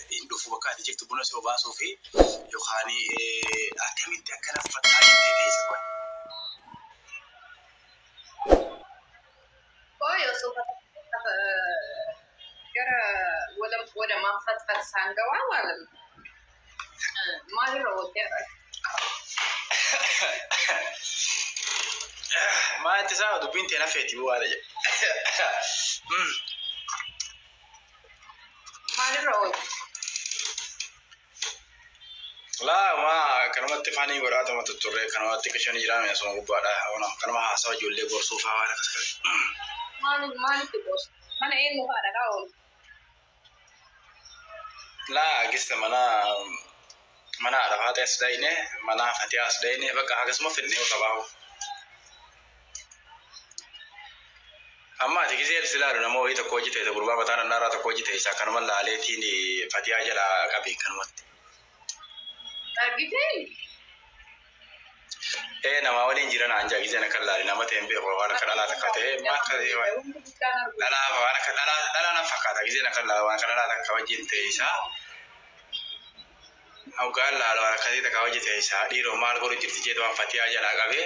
hin dhufu bakka ati jirtu buna si obaasuufi yookaan akkamitti akka naffattaa jettee teesse qoy. Qoy osoo gara walam walamaan fatfatsaan gawaa maalam maalirra oolte arra. Maa itti isaa dubbiin tee nafeeti bu'aadha jedhe. Maalirra oolu? Laa ma kanumatti faanii godhaa tuma tutturree kanumatti qishan jiraame asuma gubbaadha. Ona kanuma haasawa ijoollee gorsuu fa'aa waan akkas akkas. Maali maalitti qoosu? Mana eenyu fa'aa dhaqaa oolu? Laa gista mana Mana haadha faaxee as dhayne mana fatiyaa as dhayne bakka akkasuma fidnee qabaahu. Amma ati gisee si laalu nama wayii tokko hojii ta'e gurbaa mataa nannaaraa tokko hojii ta'e isaa kanuma laaleetiin fatiyaa jala qabe kanumatti. Argitee? Ee namaa waliin jira naan jaa gizeen akka laali nama ta'een beeku waan akka dhalaa takka ta'ee maal akka ta'ee waan dhalaa waan akka dhalaa dhalaa nan fakkaata gizeen akka laala waan akka dhalaa takka wajjin ta'e isaa hoggaan laala waan akka ta'e takka wajjin ta'e isaa dhiiroo maal godhu jirti jeetu waan fatiyaa jalaa qabee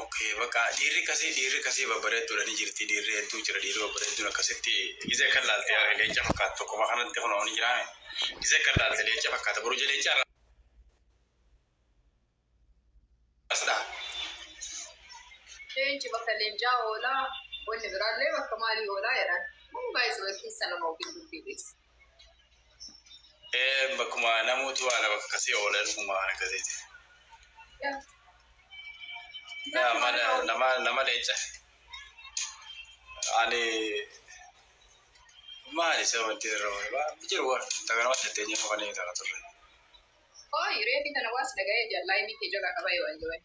Okay, bakka dhiirri kasii dhiirri kasii babbareedduudha ni jirti dhiirri hedduu jira dhiirri babbareedduun akkasitti gizee kan laalte yaa leenca fakkaata tokkuma kanatti kun ni jiraame gizee kan laalte leenca fakkaata buruja leenca irraa asdha. Leenci bakka leencaa oolaa wanni biraallee bakka maalii oolaa jedhan. Kun baay'ee keessan nama ofiin dubbii dhiyeessa. Ee bakkuma namooti waa lama akkasii oola ilmuma waan akkasiiti. Yaa mala nama nama leenca. Ani maali isa wanti irra waan jiru waan takka nama jettee nyafa kan eegaa turre. Hooyi reefi tana waa si dhagaye jal live kee jala qabaye wly wly.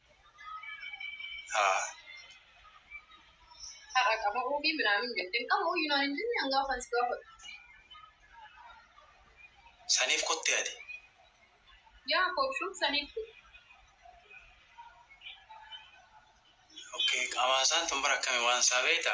Haa. Haqa qama'uu fi minaamin jetteen qama'uu yunaan hin jenne an gaafan si gaafadhu. Saniif kutte ati. Yaa koobshuun saniif kutte. Okay qamaa saan tun bara akkami waan isaa beekta.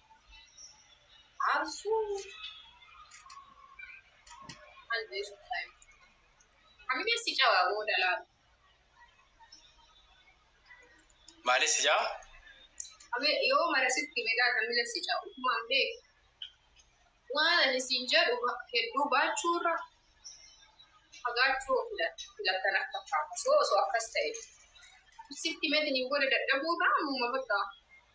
Maalis ijaa? Yoo mara sitti meedaa kan mila si caa utumaan beeku. Waan ani siin jedhu hedduu baachuu irra fagaachuu filattan akka taatu. Osoo osoo akkas ta'e sitti meetiin hin booda dadhabuu irraa ammuma bakka.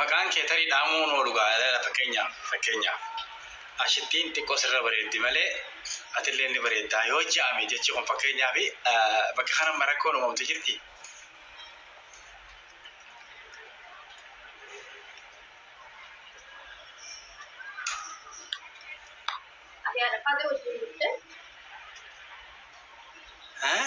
Maqaan kee tarii dhaamuu hin oolu gaa ilaala fakkeenyaaf fakkeenyaaf ashittiin xiqqoo sirra bareeddi malee atillee ni bareeddaa yoo ja'ame jechi kun fakkeenyaaf bakka kana amma rakkoon uumamtu jirti. Ati haadha faata wajjin dhufte. Eh?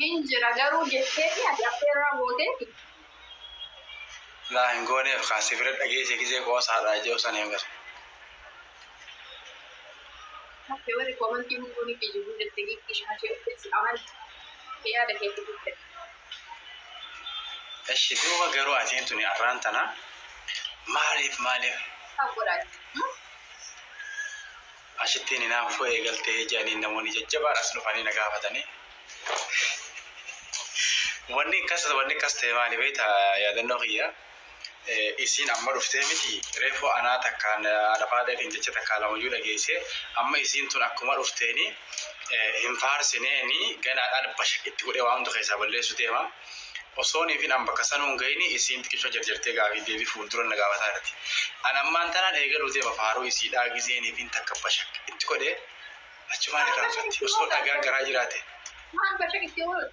Hin jira garuu jetteeti ati affeerraa gooteeti. Laa hin gooneef kaa si bira dhageesse gizee qoosaadha je'u san hin agarre. Hakke warri komantii hunduu ni kijibuu jette giiftii shaashee uffee si amane hakke yaada kee fiduu fedhe. Eshi duuba garuu atiin tuni arraan tana maaliif maaliif. Sab godhaa isin. Asittiin hinaaffuu eegaltee? jedhaniin namoonni jajjabaan as dhufanii na gaafatanii. Wanni akkas wanni akkas ta'e maali beekta yaadannoo kiyya isiin amma dhuftee miti reefuu anaa takkaan haadha faadheetiin jecha takkaa lamayyuu dhageessee amma isiin tun akkuma dhufteeni hin faarsineeni ganaa dhaalbasha itti godhee waa hunda keessaa balleessu deema. Osoo Niiviin an bakka sanuu hin gayini isiin xiqisho jarjartee gaafii deebi fuuldura na gaafataa jirti. An ammaan tanaan eegaluu deema faaruu isiidhaa gizee Niiviin takka bashaq itti godhe achumaan irraanfatti. Osoo dhagaan garaa jiraate. Maal bashaq itti godhuun.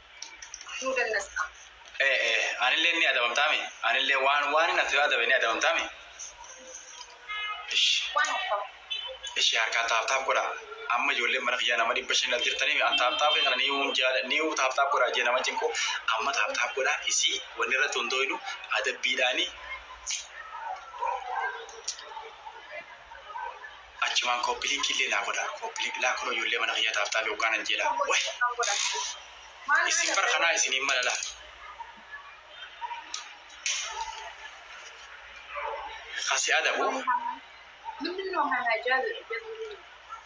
nu dannasta. Ee, ee, anilleen ni adabamtaami? Anillee waan waanin ati yoo adabe ni adabamtaami? Ishi, Waan abbaa. ishi harkaan taaptaap godha. Amma ijoolleen mana kiyyaa nama dhibba shaniin as jirtaniif an taaptaapii kana niyuun jaala, niyuu taaptaap godha jee nama cinqu. Amma taaptaap godha, isii wanni irratti hundooynu adabbiidhaani. Achumaan copy link illee naa godhaa copy link laa kunoo ijoollee mana kiyyaa taaf taafe hoggaa nan jeedhaa wahi issin bar kanaa isiniin mala laa ka si adabu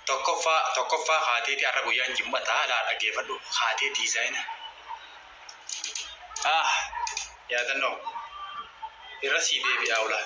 tokkoffaa tokkoffaa kaateeti arra guyyaan jim'ataa laa dhageefadhu kaatee diizaayina ah yaadannoo irra sii deebi'aa ulaa.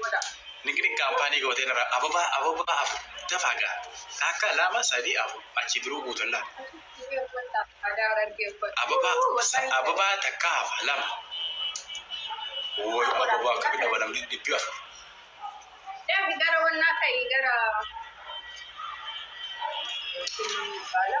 godha. Niqniq kaampaanii gootee irra ababaa ababaa afur dafaa gaa taakka lama sadii afur achi biruu guutollaa ababaa ababaa takkaa hafa lama wooy ababaa akka midhaba namni dhibbi afur Deebi gara wannaa ka'i gara Baala.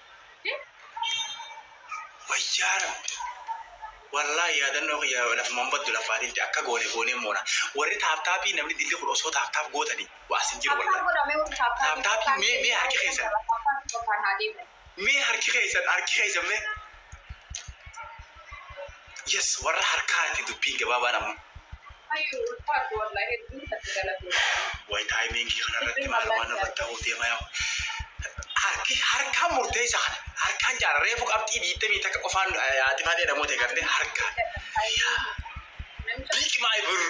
Wayyaa rabbi. Wallahi yaadannoo kiyya lafumaan baddu lafaa dildi akka goone goonee moona. Warri taaptaappii namni dildi kun osoo taaptaap gootanii waa sin jiru wallahi. Taaptaappii mee mee harki keessan. Mee harki keessan harki keessan mee. Yes warra harkaati dubbiin gabaabaan ammoo. Hayyuu ulfaadhu wallahi hedduu isatti galatoomii. Way timing kana irratti maalumaa narratti ta'uu deema yaa harki harkaan murteessa kana harkaan caala reefu qabxii diidamii takka qofaan atifaatee dhamootee gartee harkaan yaa big my birr.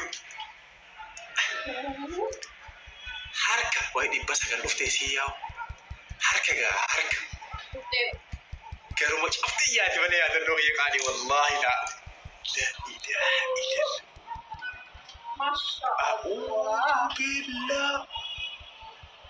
Harka wayi dhibba sagal dhufte isii yaa'u harka gaa harka garuma cufti iyyaati malee yaadannoo kiyya qaalii wallaahi laa ilaaha illallah Masha Allah. A'uuzubillaah.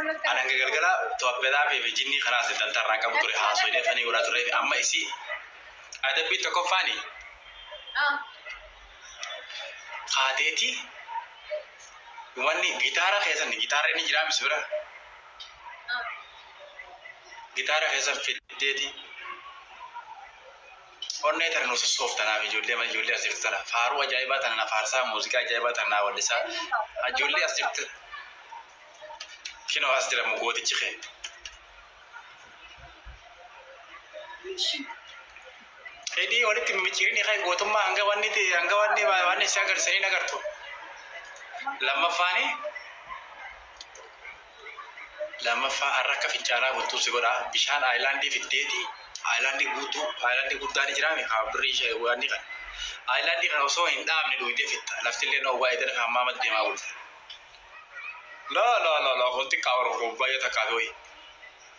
An hanga galgala Tooppedaafii fi jinnii kanaas dantaa irraan qabu ture haasoyinee fanii godhaa turree fi amma isii adabbii tokkoffaani kaateeti wanni gitaara keessan gitaarri ni jiraa misi bira gitaara keessan fiddeeti Onnee tana nu sossoofta naaf ijoollee mana ijoollee as jirtu tana faaruu ajaa'ibaa tana na faarsaa muuziqaa ajaa'ibaa tana naa wallisaa ijoollee as jirtu kinoo as jira mu gootichi kee. Hidhii walitti mimicciirinii kee gootummaa hanga wanni ti hanga wanni wanni si agarsiisanii hin agartu. Lammaffaanii Lammaffaa, arra akka fincaanaa bultuu si godha. Bishaan ayilaandii fiddeeti, ayilaandii guutuu, ayilaandii guddaa ni jiraami ka birrii ishee waanni kana. Ayilaandii kana osoo hin dhaabne dhuydee fixxa. Laftillee oowwaa edana kan ammaa matti deemaa bulti. Laa laa laa laa kun xiqqaa bar kun baay'ee takkaa fi hoyi.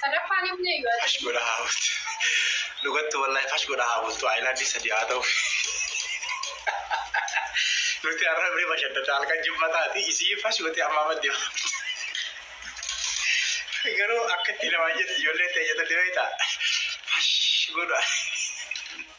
Sadaffaan ibne yoo ati. Fash godha haa bultu. Dhugattu wallahi fash godha haa bultu. Ayilaandii sadii haa ta'u. Nuti har'a biri bashaddata halkan jimmataati. Isii fash gote amma amma deema. Garuu akkatti namaa jettu ijoolleen ta'e jettu deebiita. Fash godha.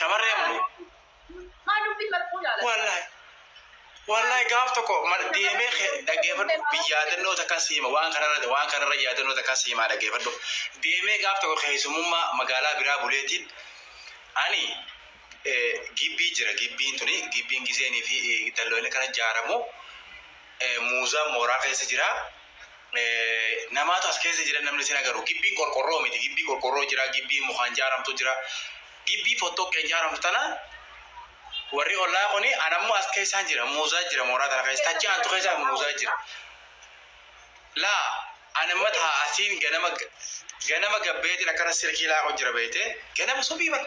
Shamarree ammoo. Maa dubbii marquu jaalata. Wallahi. Wallahi gaaf tokko mal- deemee kee dhaggeeffadhu biyyaadannoo takka siima waan kanarra waan kanarra yaadannoo takka siimaa dhaggeeffadhu deemee gaaf tokko keessumummaa magaalaa biraa buleetiin ani eh, gibbii jira gibbiin tuni gibbiin giseenii fi eh, dalloonni kana ijaaramu Muuzaan mooraa keessa jira. Namaatu as keessa jira namni sin agaru. Gibbiin qorqorroo miti. Gibbii qorqorroo jira. Gibbii mukaan jaaramtu jira. Gibbii fottoqqeen jaaramtu tana warri ollaa kuni anammoo as keessaan jira. Muuzaa jira mooraa tana keessa. Tachi aantu keessa muuzaa jira. Laa anamma taa asiin ganama ganama gabbeetiin akkana silkii laaqu jira beeyte ganama subii bara.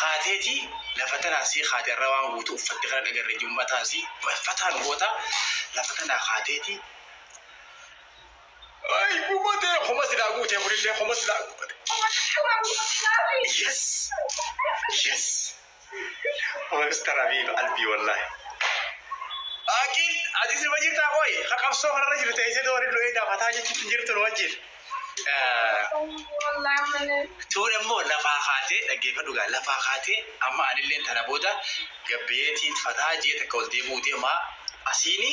kaateeti lafa tanaa sii kaate arra waan guutu uffatte kana dhagarre jum'ataan sii fataa nu goota lafa tanaa kaateeti ay gubate homa silaa guute kunillee homa silaa gubate yes yes Mister Abiy qalbii wallahi. Aqil ati sirba jirtaa qoy ka qabsoo kanarra jiru teessee doori lo'ee daafataa jechuutti jirtu nu wajjin. Tuun ammoo lafaa kaatee dhaggeeffadhu gaa lafaa kaatee amma anilleen tana booda gabbeetiin fataa jee takka ol deebi'uu deemaa asiini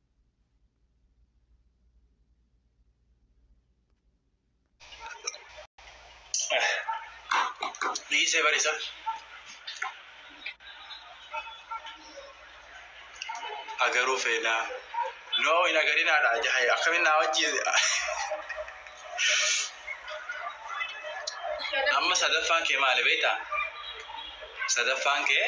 dhiisee barisa agaruu feenaa noo hin agarinaadha jahay akkamin naa wajji amma sadaffaan kee maali beektaa sadaffaan kee